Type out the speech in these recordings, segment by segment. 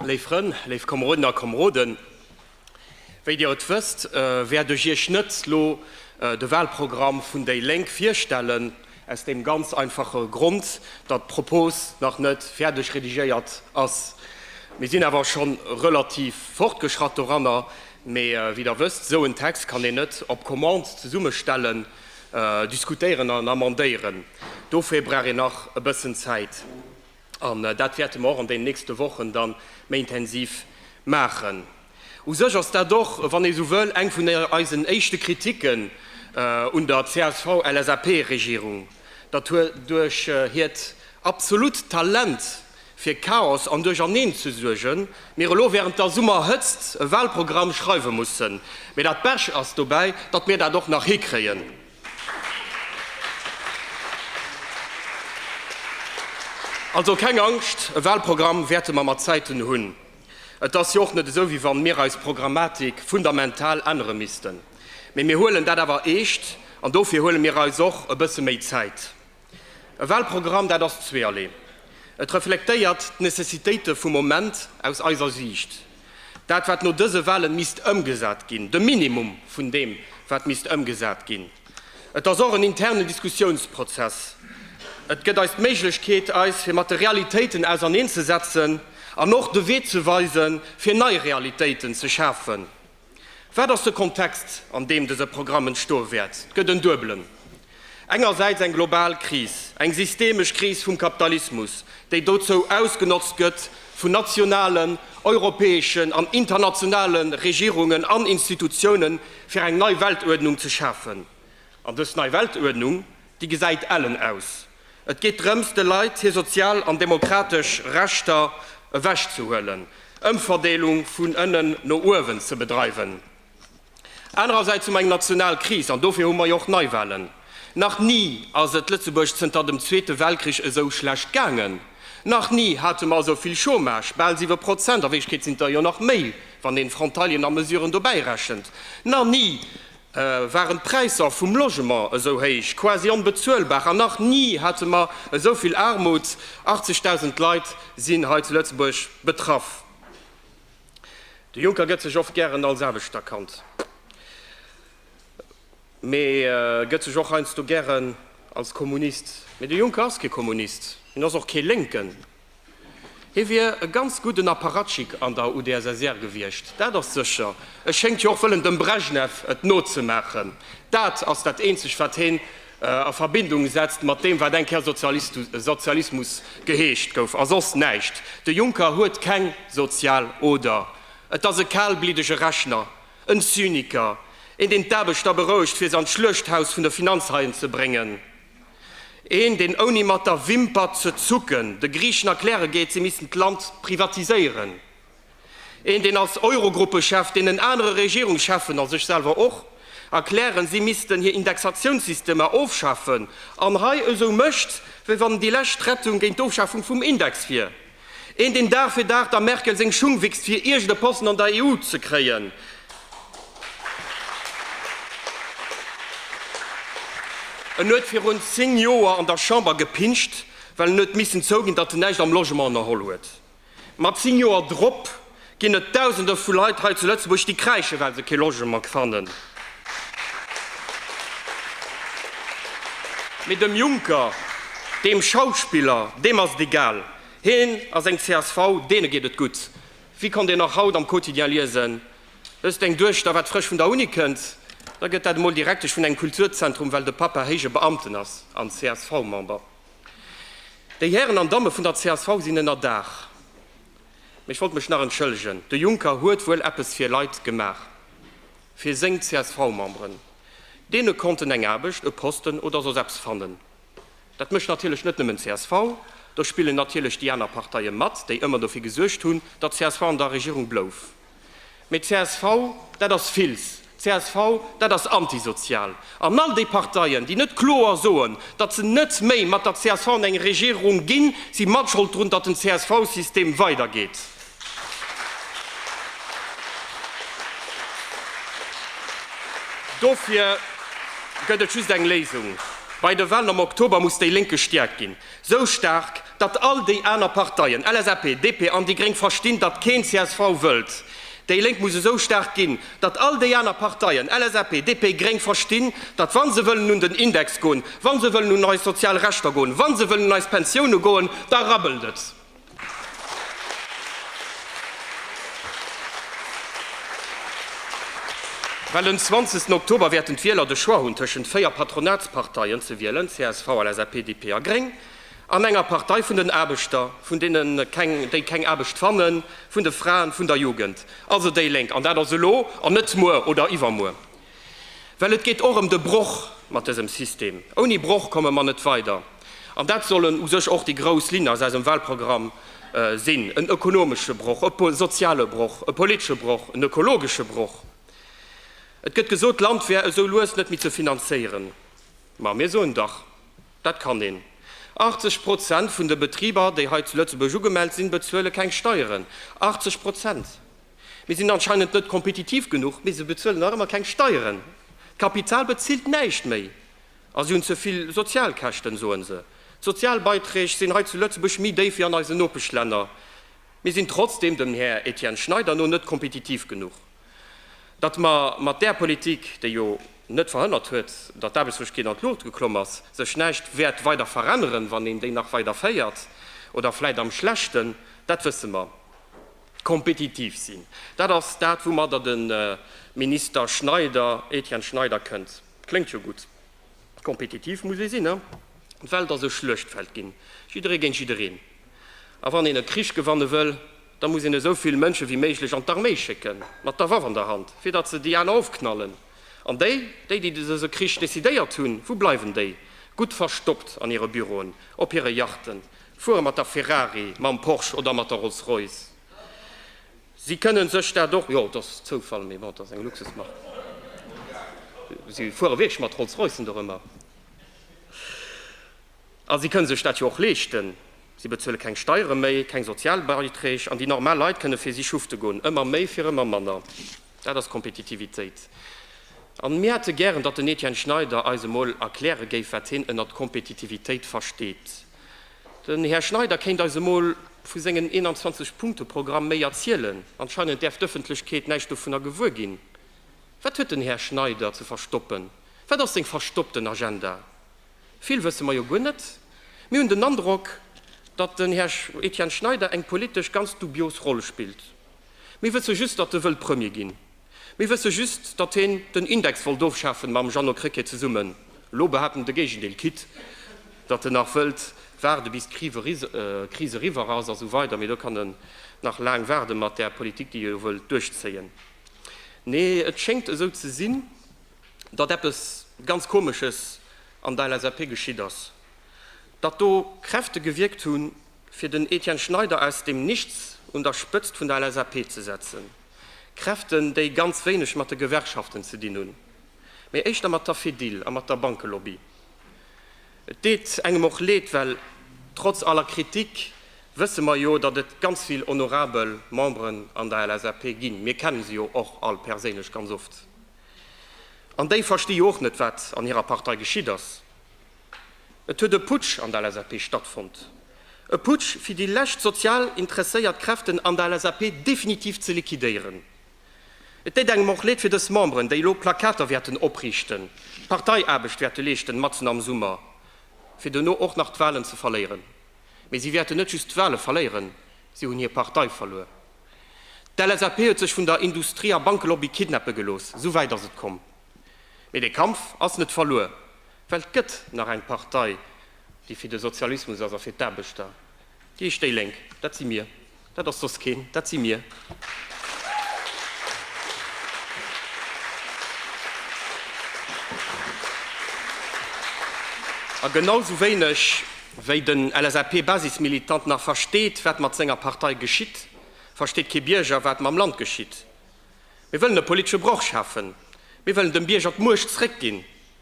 Léif Frënn, léif Komeroden a Komeroden, wéi Dir et wësst, wäert ech Iech net elo de Wahlprogramm vun déi Lénk virstellen, aus deem ganz einfache Grond, datt d'Propos nach net fäerdeg redigéiert ass. Mir sinn awer scho relativ fortgeschratt doranner, mee wéi Der wësst, esou en Text kann een net op Commande zesummestellen, diskutéieren an amendéieren. Dofir brauch een nach e bëssen Zäit. An dat wäerte mer och an deenen nächste Wochen da méi intensiv maachen. U sech ass dat och, wann ee sou wëll, eng vun eisen éischte Kritiken un der CSV-LSAP-Regierung, datt hir duerch hiert absolut Talent fir Chaos an Duercherneen ze suergen, mir elo während der Summerhëtzt e Wahlprogramm schreiwe mussen. Mee dat Besch ass dobäi, datt mir dat och nach hikréien. Also keng Angscht, e Wahlprogramm wäerte mer mat Zäiten hunn. Et ass jo och net esou, wéi wann mir eis Programmatik fundamental ännere missten. Mee mir huelen dat awer eescht an dofir huele mir eis och e bësse méi Zäit. E Wahlprogramm, dat ass zweeërlee. Et reflektéiert d'Necessitéite vum Moment aus eiser Siicht. Dat, wat no dëse Wahlen misst ëmgesat ginn, de Minimum vun deem, wat misst ëmgesat ginn. Et ass och en internen Diskussionsprozess. Et gëtt eis d'Méiglechkeet, eis fir mat de Realitéiten auserneenzesetzen an och de Wee ze weisen, fir nei Realitéiten ze schafen. Wat ass de Kontext, an deem dëse Programm entstoe wäert? Et gëtt en duebelen. Engersäits eng global Kris, eng systemesch Kris vum Kapitalismus, déi dozou ausgenotzt gëtt vun nationalen, europäeschen an internationale Regierungen an Institutiounen, fir eng nei Weltuerdnung ze schafen. An dës nei Weltuerdnung Déi gesäit ellen aus. Et geet drëms, de Leit hir sozial an demokratesch Rechter ewech ze huelen, Ëmverdeelung vun ënnen no uewen ze bedreiwen. Anerersäits hu mer eng national Kris an dofir hu mer jo och Neiwahlen. Nach ni ass et Lëtzebuerg zënter dem Zweete Weltkrich esou schlecht gaangen. Nach ni hate mer esou vill Chômage, bal siwe Prozent, a Wierklechkeet sinn et der jo nach méi, wann een Frontalien a Mesuren dobäirechent. Nach ni waren d'Präisser vum Logement esou héich, quasi onbezuelbar, an nach ni hate mer esou vill Aarmut. 80.000 Leit sinn hei zu Lëtzebuerg betraff. De Juncker gëtt sech oft gären als Aarbechter kannt, mee gëtt sech och heiansdo gären als Kommunist. Mee de Juncker ass kee Kommunist, hien ass och kee Lénken. Hie wier e ganz gudden Apparatschik an der UdSSR gewiescht, dat ass sécher. E schéngt jo och wëllen dem Brezhnev et nozemaachen. Dat ass dat eenzegt, wat hien a Verbindung setzt mat deem, wat eng Kéier Sozialismus geheescht gouf, a soss näischt. De Juncker huet keng sozial Oder. Et ass e kalbliddege Rechner, en Zyniker, een, deen d'Aarbechter berouegt, fir se an d'Schluechthaus vun de Finanzhaien ze bréngen. Een, deen ouni mat der Wimper ze zucken de Griichen erkläre geet, si missten d'Land privatiséieren. Een, deen als Eurogruppechef deenen anere Regierungscheffen, a sech selwer och, erklären, si missten hir Indexatiounssystemer ofschafen, an hei esou mécht, wéi wann déi lescht Rettung géint d'Ofschafung vum Index wier. Een deen Dag fir Dag der Merkel seng Schung wichst fir iergend e Posten an der EU ze kréien. En huet virun 10 Joer an der Chamber gepinscht, well en huet missen zouginn, datt en näischt am Logement ënnerholl huet. Ma 10 Joer drop ginn et Dausende vu Leit hei zu Lëtzebuerg, déi kräischen, well se kee Logement fannen. Mee dem Juncker, deem Schauspiller, deem ass et egal. Hien a seng csv, deene geet et gutt. Wéi konnt een nach haut am Quotidien liesen, Wësst eng Duechter, wat frësch vun der Uni kënnt? Da gëtt dat emol Direktesch vun engem Kulturzentrum, well de Pappa héije Beamten ass an CSV-Member. Déi Hären an Damme vun der csv sinn ënner Daach. Mee ech wollt mech nach entschëllegen. De Juncker huet wuel eppes fir Leit gemaach, fir seng CSV-Memberen. Deene konnten eng Aarbecht, e Posten oder soss eppes fannen. Dat mécht natierlech net nëmmen csv, do spillen natierlech déi aner Parteie mat, déi ëmmer dofir gesuergt hunn, datt csv an der Regierung blouf. Mee d'CSV, dat ass Fils. D'CSV, dat ass antisozial. An all déi Parteien, déi net kloer soen, datt se net méi mat der csv an eng Regierung ginn, si matschold drun, datt den CSV-System weidergeet. Dofir gëtt et just eng Léisung, Bei de Wahlen am Oktober muss déi Lénk gestäerkt ginn. Sou staark, datt all déi aner Parteien, LSAP, DP an déi Gréng, verstinn, datt keen csv wëllt. Déi Lénk muss esou staark ginn, datt all déi aner Parteien, LSAP, DP, Gréng, verstinn, datt wa se wëllen un den Index goen, wa se wëllen un eis sozial Rechter goen, wa se wëllen un eis Pensioune goen, da rabbelt et. Well en 20. Oktober wäerten d'Wieler de Choix hunn tëschent véier Patronatsparteien ze wielen, csv, LSAP, DP a Gréng, an enger Partei vun den Aarbechter, vun deenen, déi keng Aarbecht fannen, vun de Fraen, vun der Jugend, also déi Lénk. An dat ass elo an net muer oder iwwermuer. Well et geet och ëm de Broch mat dësem System. Ouni Broch komme mer net weider. An dat sollen u sech och déi grouss Linne aus eisem Wahlprogramm sinn, en ökonomesche Broch, e soziale Broch, e politesche Broch, en ökologesche Broch. Et gëtt gesot, d'Land wär esou lues net méi ze finanzéieren. Ma mir soen dach, dat kann een. 80 Prozent vun de Betriber, déi hei zu Lëtzebuerg ugemellt sinn, bezuele keng Steieren. 80 Prozent! Mir sinn anscheinend net kompetitiv genuch, mee se bezuelen nach ëmmer keng Steieren. D'Kapital bezilt näischt méi a si hunn ze vill Sozialkäschten, soen se. D'Sozialbeiträg sinn hei zu Lëtzebuerg méi déif wéi an eisen Nopeschlänner. Mir sinn trotzdeem dem Här Etienne Schneider no net kompetitiv genuch. Datt mer mat där Politik, déi jo net verhënnert huet, datt d'Aarbechtslosegkeet an d'Luucht geklomm ass, sech näischt wäert weider veränneren, wann een déi nach weider féiert oder vläit am Schlechten, dat wësse mer. Kompetitiv sinn, dat ass dat, woumatter de Minister Schneider, Etienne Schneider, kënnt. Kléngt jo gutt. Kompetitiv muss ee sinn, ne? D'Welt ass e Schluechtfeld ginn, jidderee géint jiddereen. A wann een e Krich gewanne wëll, da muss een esou vill Mënsche wéi méiglech an d'Arméi schécken, mat der Waff an der Hand, fir datt se déi aner ofknallen. An déi, déi, déi dëse Krich decidéiert hunn, wou bleiwen déi? Gutt verstoppt an hire Büroen, op hire Yachten, Fuere mat der Ferrari, mam Porsche oder mat der Rolls Royce, si kënnen sech dat och, jo, et ass Zoufall, mee bon, et ass eng Luxusmark, si fuere wierklech mat Rolls Roycen do rëm, a si kënne sech dat jo och leeschten. Si bezuele keng Steiere méi, keng Sozialbeiträg, an déi normal Leit kënne fir si schufte goen, ëmmer méi fir ëmmer manner. Dat ass Kompetitivitéit. A mir hätte gären, datt den Etienne Schneider eis emol erkläre géif, wat hien ënnert Kompetitivitéit versteet. Den Här Schneider kéint eis emol vu sengen 21 Punkte Programm méi erzielen. Anscheinend däerf d'Ëffentlechkeet näischt dovunner gewuer ginn. Wat huet den Här Schneider ze verstoppen? Wat ass seng verstoppten Agenda? Vill wësse mer jo guer net. Mir hunn den Androck, datt den Här Etienne Schneider eng politesch ganz dubios Roll spillt. Mir wësse just, datt e wëll Premier ginn. Mir wësse just, datt hien den Index wollt ofschafen, mam Jeannot Krecké zesummen. Elo behaapt en de Géigendeel, quitt datt en nach wëllt waarde bis d'Kris eriwwer ass a sou weider. Mee do kann en nach laang waarde mat där Politik, déi hie jo wëllt duerchzéien. Nee, et schéngt esou ze sinn, datt eppes ganz Komesches an der LSAP geschitt ass, datt do Kräfte gewierkt hunn, fir den Etienne Schneider aus dem Nichts un der Spëtzt vun der LSAP ze setzen. Kräften, déi ganz wéineg mat de Gewerkschaften ze dinn hunn, mee éischter mat der Fedil a mat der Bankelobby. Et deet engem och Leed, well trotz aller Kritik wësse mer jo, datt et ganz vill honorabel Memberen an der LSAP ginn, mir kenne se jo och all perséinlech ganz oft, an déi versti jo och net, wat an hirer Partei geschitt ass. Et huet e Putsch an der LSAP stattfonnt. E Putsch, fir déi lescht sozial interesséiert Kräften an der LSAP definitiv ze liquidéieren. Et déit engem och Leed fir dës Memberen, déi elo Plakater wäerten opriichten, Parteiaarbecht wäerte leeschten matzen am Summer, fir duerno och nach d'Wahlen ze verléieren. Mee si wäerten net just d'Wahle verléieren, si hunn hir Partei verluer. D'LSAP huet sech vun der Industrie a Bankelobby kidnappe gelooss. Esou wäit ass et komm. Mee de Kampf ass net verluer. Well 't gëtt nach eng Partei, déi fir de Sozialismus ass a fir d'Aarbechter, déi heescht déi Lénk. Dat si mir. Dat ass soss keen. Dat si mir. A genau sou wéineg, wéi den LSAP-Basismilitant nach versteet, wat mat senger Partei geschitt, versteet kee Bierger, wat mam Land geschitt. Mir wëllen e politesche Broch schafen. Mir wëllen dem Bierger d'Muecht zréckginn.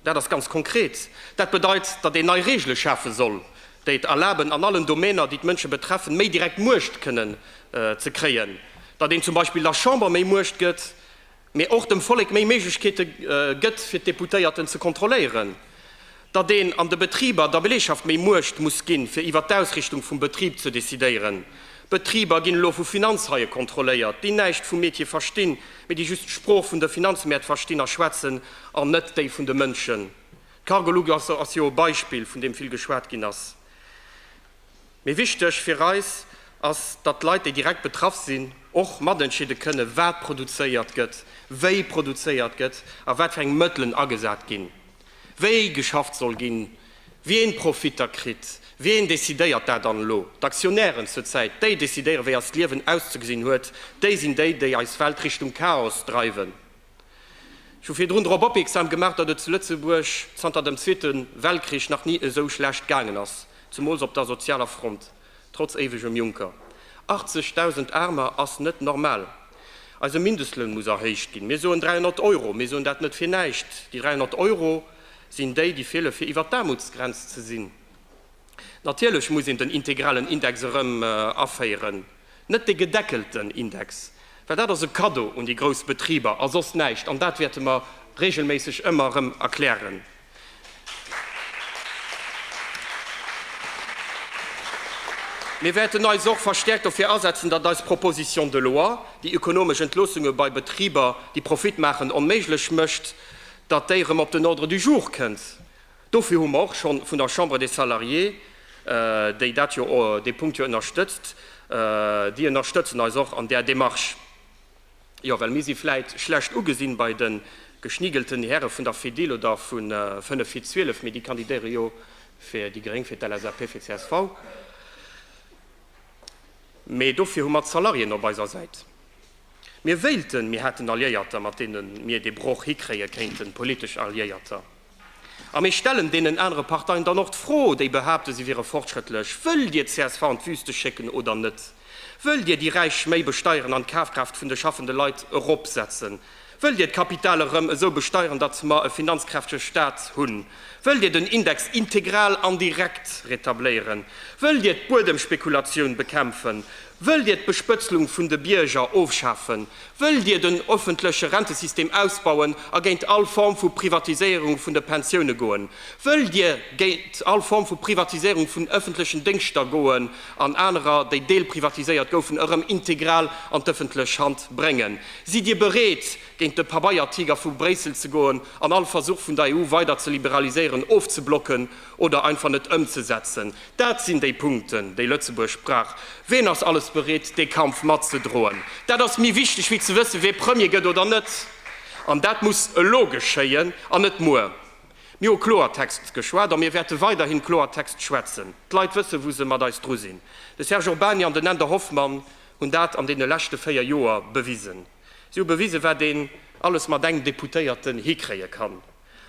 Dat ass ganz konkret. Dat bedeit, datt een nei Reegele schafe soll, déi et erlaben, an allen Domäner, déi d'Mënsche betreffen, méi direkt Muecht kënnen ze kréien, datt een zum Beispill der Chamber méi Muecht gëtt, mee och dem Vollek méi Méiglechkeete gëtt, fir d'Deputéierten ze kontrolléieren, datt een an de Betriber der Belegschaft méi Muecht muss ginn, fir iwwert d'Ausrichtung vum Betrib ze decidéieren. Betriber ginn elo vu Finanzhaie kontrolléiert, déi näischt vum Metier verstinn. Mee déi just d'Sprooch vun de Finanzmäert verstinn a schwätzen an net déi vun de Mënschen. D'Cargolux ass jo e Beispill, vun deem vill geschwat ginn ass. Mee wichteg fir eis ass, datt d'Leit, déi direkt betraff sinn, och matentscheede kënnen, wat produzéiert gëtt, wéi produzéiert gëtt a wat fir eng Mëttelen agesat ginn, wéi geschafft soll ginn, Wien Profitter kritt, wien decidéiert dat dann elo? D'Aktionären zur Zäit, déi decidéieren, wéi eist Liewen auszegesinn huet. Déi sinn déi, déi eis Welt Richtung Chaos dreiwen. Ech hu virdrun drop opierksam gemaach, datt et zu Lëtzebuerg zanter dem Zweete Weltkrich nach ni esou schlecht gaangen ass, zemools op der sozialer Front. Trotz éiwegem Juncker, 80.000 Aarmer ass net normal. Eise Mindestloun muss erhéicht ginn. Mir soen 300 Euro. Mir soen dat net fir näischt. Déi 300 Euro sinn déi, déi feelen, fir iwwert d'Aarmutsgrenz ze sinn. Natierlech muss een den integralen Index erëm aféieren, net dee gedeckelten Index, well dat ass e Kaddo un déi grouss Betriber a soss näischt. An dat wäerte mer reegelméisseg ëmmer erëm erklären. Mir wäerten eis och verstäerkt dofir asetzen, datt eis Proposition de loi, déi ökonomesch Entloossunge bei Betriber, déi Profit maachen, onméiglech mécht, datt déi erëm op den Ordre du jour kënnt. Dofir hu mer och scho vun der Chambre des Salariés, déi dat jo, dee Punkt jo ënnerstëtzt, déi ënnerstëtzen eis och an där Démarche. Jo, well mir si vläit schlecht ugesinn bei de geschnigelten Häre vun der Fedil oder vu 5 vir 12, mee déi kandidéiere jo fir déi Gréng, fir d'LSAP, fir csv. Mee dofir hu mer d'Salariéen op eiser Säit. Mir wéilten, mir hätten Alliéierter, mat deene mir dee Broch hikréie kéinten, politesch Alliéierter. A mir stellen deenen anere Parteien dann och d'Fro, déi behaapten, si wiere fortschrëttlech, Wëllt Dir csv an d'Wüste schécken oder net? Wëllt Dir déi Räich méi besteieren an d'Kafkraaft vun de schaffende Leit eropsetzen? Wëllt Dir d'Kapital erëm esou besteieren, datt mer e finanzkräftege Stat hunn? Wëllt Dir den Index integral an direkt retabléieren? Wëllt Dir d'Buedemspekulatioun bekämpfen? Wëllt Dir d'Bespëtzlung vun de Bierger ofschafen? Wëllt Dir den öffentleche Rentesystem ausbauen a géint all Form vu Privatiséierung vun de Pensioune goen? Wëllt Dir géint all Form vu Privatiséierung vun öffentlechen Déngschter goen an anerer, déi deelprivatiséiert goufen, erëm integral an d'öffentlech Hand bréngen? Sidd Dir bereet, géint de Pabeiertiger vu Bréissel ze goen an all Versuch vun der EU weider ze liberaliséieren ofzeblocken? Oder einfach net ëmzesetzen, dat sinn déi Punkten, déi Lëtzebuerg brauch. Ween ass alles bereet, dee Kampf matzedroen? Dat ass méi wichteg wéi ze wëssen, wee Premier gëtt oder net. An dat muss elo geschéien an net muer. Mir hu Kloertext geschwat a mir wäerte weiderhin Kloertext schwätzen. D'Leit wësse wou se mat eis dru sinn. De Serge Urbany an den Änder Hoffmann hunn dat an deene leschte véier Joer bewisen. Si hu bewisen, wat een alles mat engem Deputéierten hikréie kann.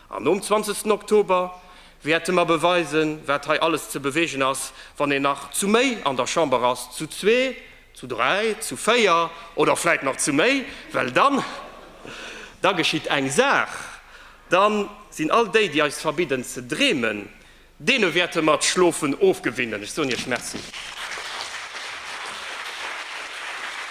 An nom zwanzegsten Oktober wäerte mer beweisen, wat hei alles ze bewegen ass, wann een nach zu méi an der Chamber ass, zu zwee, zu dräi, zu véier oder vläit nach zu méi, well dann, da geschitt eng Saach, da sinn all déi, déi eis verbidden ze dreemen, deene wäerte mer d'Schlofen ofgewinnen. Ech soen Iech Merci.